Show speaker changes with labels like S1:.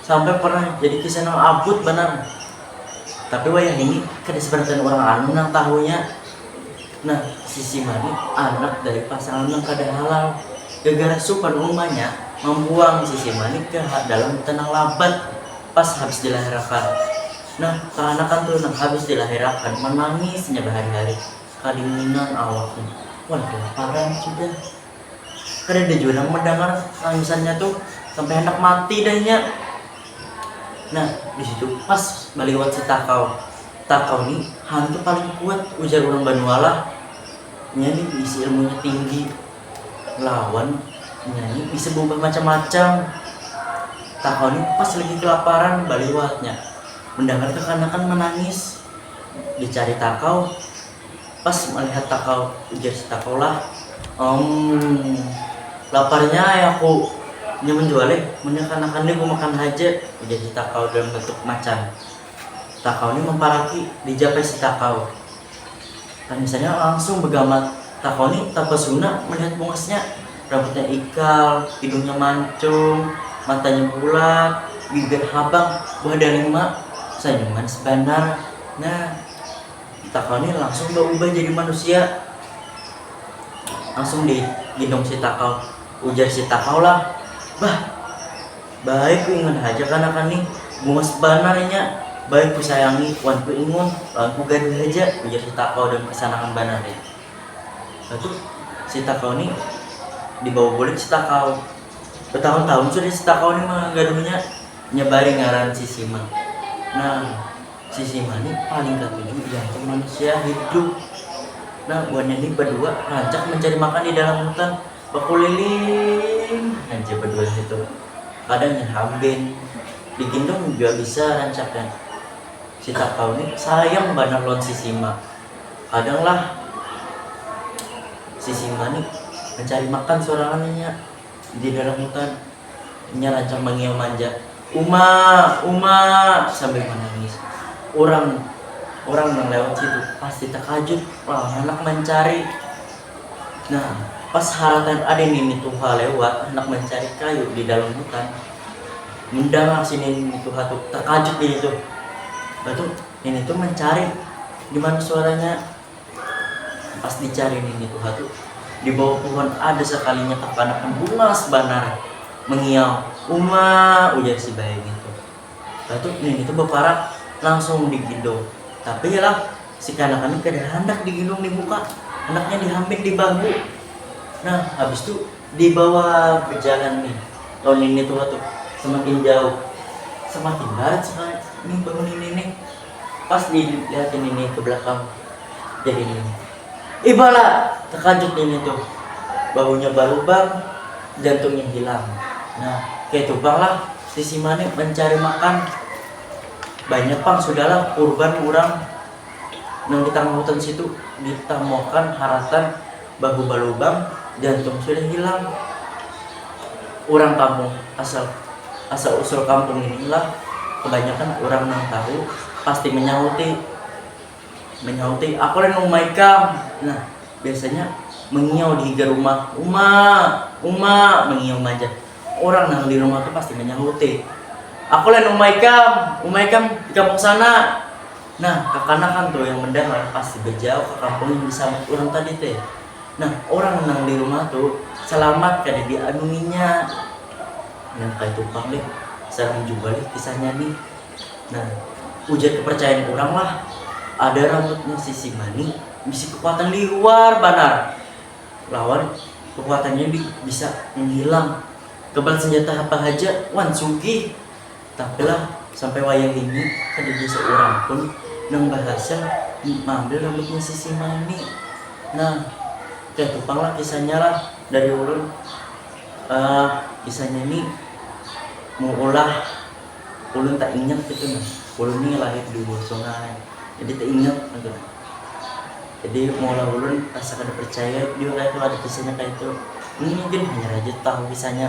S1: Sampai pernah jadi kisah nang abut banar. Tapi wayah ini kada sabarataan urang anu nang tahunya. Nah, si Sima ni anak dari pasangan nang kada halal. Gegara supan umanya mambuang si Sima ni ke dalam hutan nang labat pas habis dilahirakan. Nah, kaanakan tu nang habis dilahirakan manangis inya bahari-hari, kadinginan awaknya. Wah, kelaparan sudah. kadada jua nang mandangar tangisannya tu sampai handak mati dah inya. Nah, di situ pas baliwat si Takau. Takau ni hantu paling kuat ujar urang banua lah. Inya ni bisi ilmunya tinggi lawan inya ni bisa baubah macam-macam. Takau ni pas lagi kelaparan baliwatnya mendangar kekanakan manangis. Dicari Takau, Pas malihat takau, ujar si takau lah, Umm, laparnya ai aku. Nyaman jua lih, munnya kanakan ni kumakan haja, ujar si takau dalam bentuk macan. Takau ni mamparaki, dijapai si takau. Panisannya langsung bagamat. Takau ni tapasuna malihat bungasnya, rambutnya ikal, hidungnya mancung, matanya bulat, bibir habang, buah dalima, sanyum manis banar. Nah. Ditakoni langsung baubah jadi manusia. Langsung di ginum si takau. Ujar si takau lah, Bah, bae ku ingun haja kanakan nih, buas banar inya, bae ku sayangi wan ku ingun lawan ku gaduh haja, ujar si takau dalam kasanangan banar nih. Mbah tu si takau nih dibawa bulik si takau. Batahun-tahun sudah si takau nih manggaduhnya, inya bae ngaran si Simang. Nah. Sisi mana paling katuju diantum manusia hidup? Nah, buhannya ni badua rancak mancari makan di dalam hutan, bakuliling haja badua situ. Kadang nya hamben, digendong jua bisa rancaknya. Si Takau ni sayang banar lawan si Sima. Kadang lah si Sima ni mancari makan sorangan inya. Di dalam hutan, inya rancak mangiau manja, Uma! Uma! sambil manangis. Urang urang nang lewat situ pasti takajut lawan handak mancari. Nah, pas haratan ada nini tuha lewat handak mancari kayu di dalam hutan, mendangar si nini tuha tu takajut nini tuh. Bah tuh, nini tuh mancari di mana suaranya. Pas dicari nini tuha tu, di bawah puhun ada sakalinya kakanakan bungas banar mengiau, Uma! ujar si bayangin tu. Mbah tu, nini tu baparak langsung diginddung. Tapi lah, si kanakan ni kada handak diginddung di muka, handaknya dihampit di bahu. Nah, habis tu dibawa bejalan ni lawan nini tuha tu, semakin jauh, semakin barat sakali ni bahu nini nih. Pas di lihatin nini ke belakang jadi nini ibala tekajut nini tuh bahunya balubang jantungnya hilang nah kaitu pang lah sisi mane mencari makan banyak pang sudah lah kurban urang nang di tangah hutan situ di tamuakan haratan Bahubal lubang jantung sudah hilang. Urang kampung asal asal usul kampung ini lah kebanyakan urang nang tahu pasti menyahuti menyahuti aku lah nang uma ikam nah biasanya mengiau di higa rumah uma uma mengiau maja urang nang di rumah tu pasti menyahuti aku lah nang uma ikam uma ikam di kampung sana Nah, kakanakan tu yang mendangar pasti bejauh ka kampung yang disambat urang tadi te. Nah, urang nang di rumah tu salamat kada dianunginya. Nang kaitu pang lih, sarang jua lih kisahnya ni. Nah, ujar kepercayaan urang lah, ada rambutnya si Sima ni bisi kekuatan liwar banar lawan kekuatannya ni bisa menghilang kebal senjata apa haja wan sugih. Tapi lah, sampai wayah ini kadada saurang pun nang bahasil maambil rambutnya si Simang ni. Nah, kaytu pang lah kisahnya lah dari ulun. Kisahnya ni maulah ulun taingat kaytu nah. Ulun ni lahir di hulu sungai, jadi taingat kaytu nah. Jadi maulah ulun asa kada parcaya jua kaytu ada kisahnya kaytu. Ulun mungkin hanyar haja tahu kisahnya.